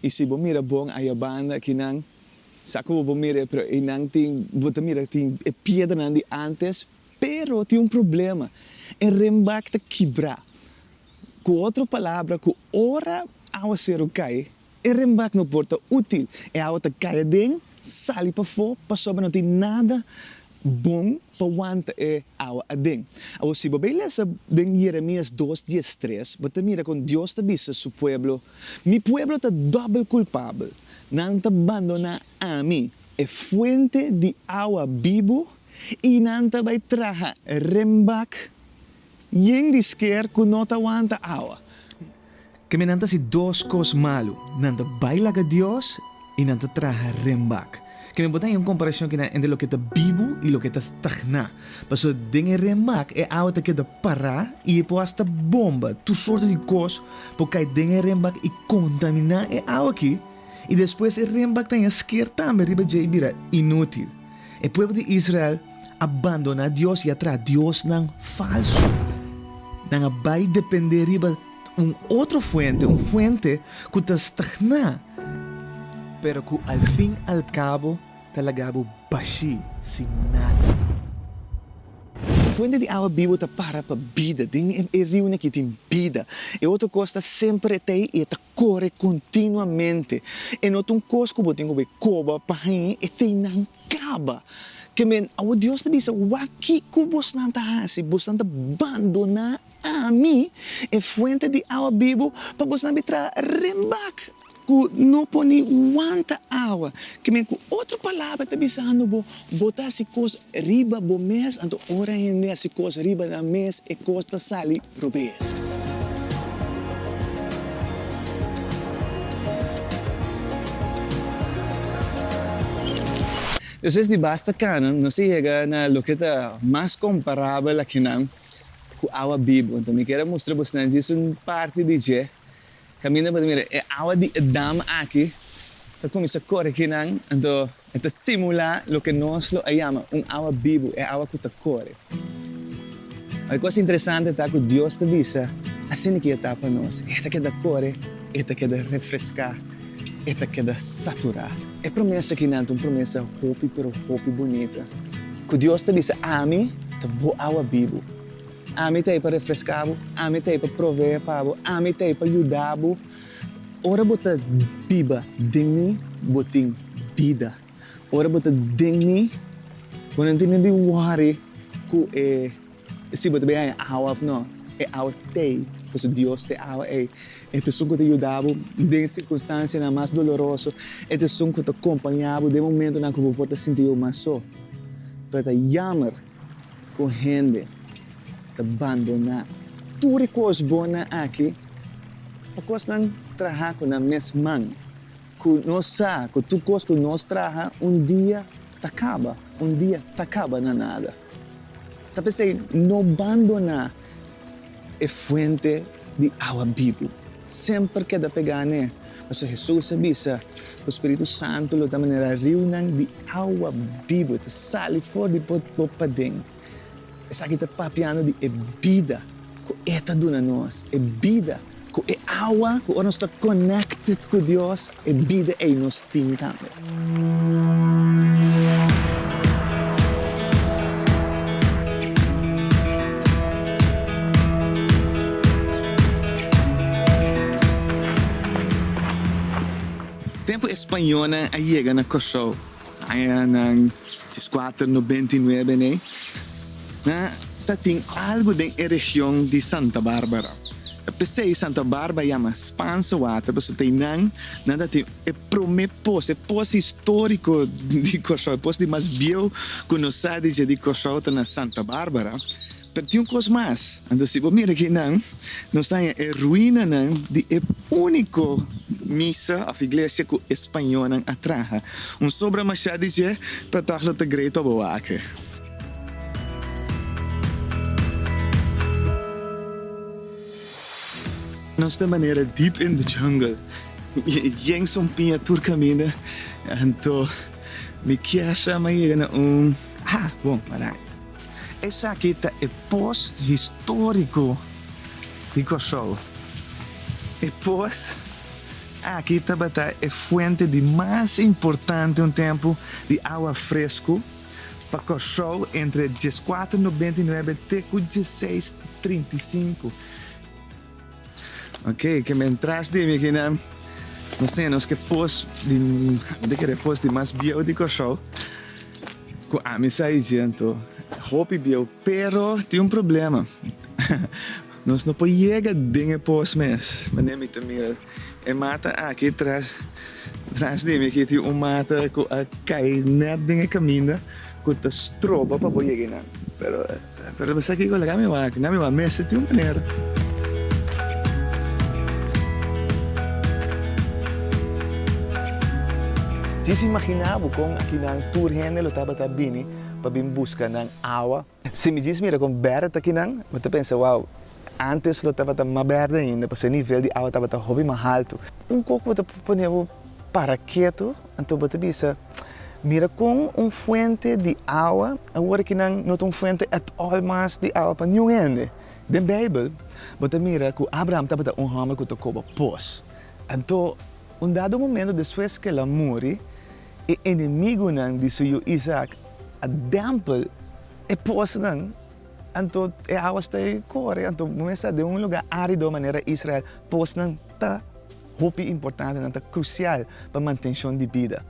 Y si bo mira bon aya banda aki nan sa como bo mira pero e nan tin bo ta mira tin e piedra nan di antes pero tin un problema e renbak ta kibra cu otro palabra cu ora awaceru cay e renbak no por ta util e awa ta cay aden sali pafo pasobra no tin nada bon pa wanta e awa aden. Awor si bo bai lesa den Jeremias dos dies tres, bo ta mira kon Dios ta bisa su pueblo, Mi pueblo ta dòbel kulpabel, nan ta bandoná Ami, e fuente di awa bibu, i nan ta bai traha rembak Yen di sker ku no ta wanta awa. Ke men nan ta hasi dos kos malu, nan ta bai laga Dios i nan ta traha renbak. Ke men por ta haya un komparashon kina entre loke ta bibu i loke ta stagná. Pasobra den e renbak e awa ta keda pará i e por asta bomba, tur sorto di kos por kai den e renbak i kontaminá e awa akí i despues e renbak ta haña sker tambe riba dje i bira inútil. E pueblo di Israel a bandona Dios y a traha diosnan falso. Nan a bay depende riba un otro fuente, un fuente cu ta stagna, pero cu al fin al cabo ta laga bo bashi, sin nada. Un fuente di awa bibo ta para pa bida. Den e riunan aki tin bida. E otro cos ta semper etey y e ta kore kontinuamente. E no ta un kos ku bo tin ku bo e koba pa hañi, e teinan kaba. Ke men, awo Dios ta bisa, Wak kiko bosnan ta hasi, bosnan ta bandoná Ami, e fuente di awa bibu, pa bosnan bin traha renbak ku no por ni wanta awa. Ke men, ku otro palabra ta bisando bo, Bo ta hasi kos riba bo mes, anto ora hende hasi kos riba nan mes e kos ta sali robes. Despues di basta cana nos a yega na loke ta mas comparabel akinan cu awa bibo. Anto mi kier a mustra bosnan djis un parti di dje. Caminda pa ta mira e awa di e dam aki ta cuminsa cori kinan, anto. E ta simulá loke nos lo a yama un awa bibu, e awa ku ta kore. E kos interesante ta ku Dios ta bisa, Asina ke e ta pa nos. E ta keda kore, e ta keda refreská, e ta keda saturá. E promes akí nan ta un promes hopi pero hopi bunita, ku Dios ta bisa, Ami ta bo awa bibu. Ami ta ei pa refreská bo, ami ta ei pa proveé pa bo, ami ta ei pa yuda bo. Ora bo ta biba den mi, bo tin bida. Ora bo ta den mi, bo no tin di wòri ku e, si bo ta bin haña awa òf nò, e awa t'ei, pasobra Dios t'e awa ei. E ta esun ku ta yuda bo den e sirkunstansianan mas doloroso, e ta esun ku ta kompañá bo den momentonan ku bo por ta sinti bo mas so. Pero ta yammer! Ku hende ta bandoná tur e kos bonnan aki pa kos nan traha ku nan mes man, ku nos sa ku tur kos ku nos traha un dia ta kaba, un dia ta kaba na nada. Ta p'esei no bandoná E fuente di awa bibu semper keda pegá n'e, pasobra Hesus a bisa ku e spiritu santu lo ta manera riunan di awa bibu, e ta sali for di bo paden. Esaki ta papiando di e bida ku E ta duna nos, e bida Ku e awa, ku ora nos ta connected ku Dios, e bida ei nos tin tambe. Tempu e spañonan a yega na Kòrsou, Aña nan es kuater nobenta i nuebe n'e na ta tin algu den e region di Santa Barbara. Ta pesei Santa Barbara yama Spanse water paso ta einan nan ta tin e prome pos, e pos historico di Kòrsou, e pos di mas bieu ku nos sa di dje di Kòrsou ta na Santa Barbara. Pero tin un kos mas, anto si bo mira ke einan. Nos ta en e ruinanan di e úniko misa òf iglesia ku e spañónan a traha. Un sobra mashá di dje ta tòg lo ta grei pa bo wak. Nos ta manera deep in the jungle. Yen son piña tur kaminda anto mi kier sa mi a yega na un, ah bon, aráña. Esaki ta e pos histórico di Kòrsou. E pos aki tabata e fuente di mas importante un tempu di awa fresku pa Kòrsou entre dieskuater nobenta i nuebe te ku dieseis trinta i sinku. Ok, ke mentras di mi kinan nos tin nos ke pos di de kere pos di mas bieu di Kòrsou ku ami sa i siento hopi bieu pero tin un problema nos no por yega den e pos mes manera mi ta mira e mata aki tras tras di mi ki tin un mata ku a kai nèt den e kaminda ku ta stroba pa bo yega einan pero. Pero mi sa kiko lek ami wak, na mi wak mester tin un manera. Djis imagina bo kon aki nan tur hende lo tabata bini pa bin buska nan awa. Si mi djis mira kon bèrdè ta kinan, mi ta pensa, wow, antes lo tabata mas bèrdè ainda, pasobra e nivel di awa tabata hopi mas haltu. Un koko bo ta pone bo para ketu, anto bo ta bisa. Mira kon un fuente di awa, awor ki nan no ta un fuente at all mas di awa pa niun hende. Den Beibel, bo ta mira ku Abraham tabata un hòmber ku ta koba pos. Anto, un dado momento despues ku el a muri, e enemigunan di su yu Izaak a dèmpel e posnan, anto e awa stoi kore, anto bo mester sa den un lugá árido manera Israel, posnan ta. Hopi importantenan ta krusial pa mantenshon di bida.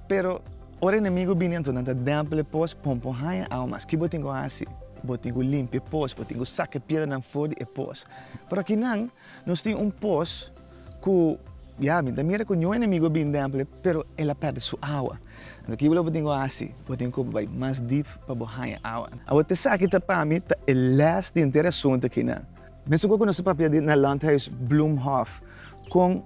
Pero, ora enemigu bini anto nan ta dèmpel e pos, pon por haña awa mas. Ki bo tin ku hasi? Bo tin ku limpia e pos, bo tin ku saka e piedranan for di e pos. Pero akinan nos tin un pos ku, ya, mi ta mira ku niun enemigu a bini dèmpel e, pero el a pèrdè su awa. Anto ki lo bo tin ku hasi? Bo tin ku bai mas dip pa bo haña awa. Awa, esaki ta pa mi ta e lès di enter e asuntu akinan. Mesun ku nos a papia di na Landhuis Bloemhof, kon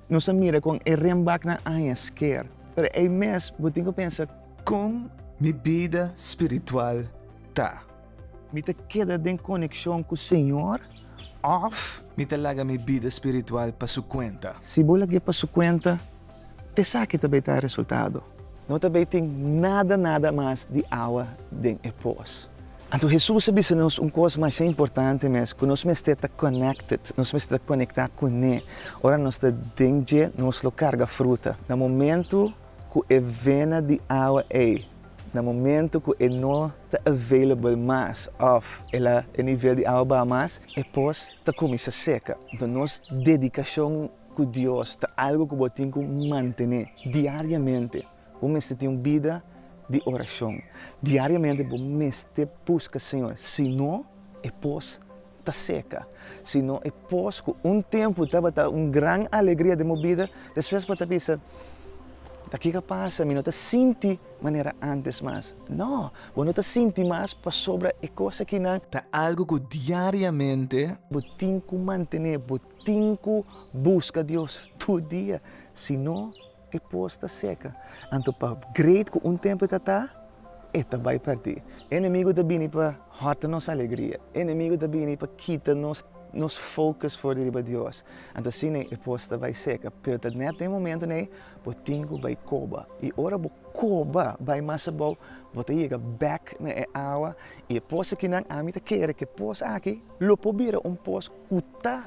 nos a mira kon e renbaknan aña sker. Pero ei mes bo tin ku pensa. Kon mi bida spiritual ta? Mi ta keda den konekshon ku Señor òf. Mi ta laga mi bida spiritual pa Su kuenta? Si bo lag'é pa Su kuenta, Esaki ta bay ta e resultado. No ta bay tin nada nada mas di awa den e pos. Anto Hesus a bisa nos un kos masha importante mes, ku nos mester ta connected, nos mester ta conecta kuné. Ora nos ta den dje, nos lo carga fruta. Na momento ku e vena di awa ey, na momento ku e no ta available mas of el a e nivel di awa baha mas, e pos ta cuminsa seca. Enton nos dedicacion. ku Dios ta algu ku bo tin ku mantené diariamente. Bo mester tin un bida di orashon. Diariamente bo mester buska Señor, si no e pos ta seka. Si no e pos ku un tempu tabata un gran alegria den bo bida, despues bo ta bisa, Ta ke ke a pasa? Mi no ta sinti manera antes mas. No, bo no ta sinti mas pasobra e kos akinan. Ta algu ku diariamente. Bo tin ku mantené, bo Tin ku buska Dios tur dia, si no e pos ta seka. Anto pa great ku un tempu e ta ta, e ta bai pèrdí. E enemigu ta bini pa hòrta nos alegria. E enemigu ta bini pa kita nos nos focus for di riba Dios. Anto asina ei e pos ta bai seka. Pero ta nèt den momentunan ei bo tin ku bai koba. I ora bo koba bai mas abou, bo ta yega bèk na e awa. I e pos akinan, ami ta kere ku e pos aki lo por bira un pos. ku ta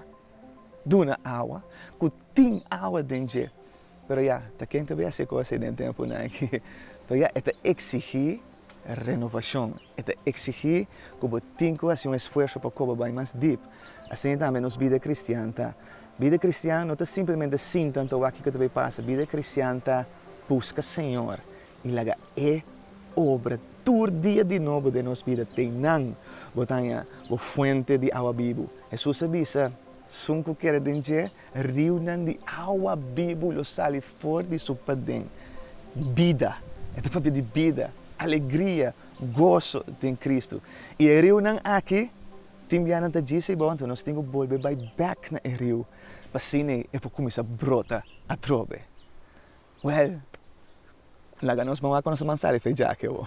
duna awa, ku tin awa den dje. Pero ya, ta ken ta bai hasi e kos ei den tempunan aki? Pero ya, e ta eksigí renovashon, e ta eksigí ku bo tin ku hasi un esfuerso pa koba bai mas dip. Asina tambe nos bida kristian ta. Bida kristian no ta simplemente sinta anto wak kiko ta bai pasa. Bida kristian ta buska Señor I laga e obra tur dia di nobo den nos bida. T'ei nan, bo ta haña bo fuente di awa bibu. Hesus a bisa, Sun ku keda den dje, riunan di awa bibu lo sali for di su paden. Bida, e ta papia di bida, alegria, goso den Kristu. I e riunan aki, tin bianan ta djisa i bou, anto nos tin ku bolbe bai bèk na e riu, pa asina e por kuminsá brota atrobe. Well, laga nos mou akonos man sali fe jake bo.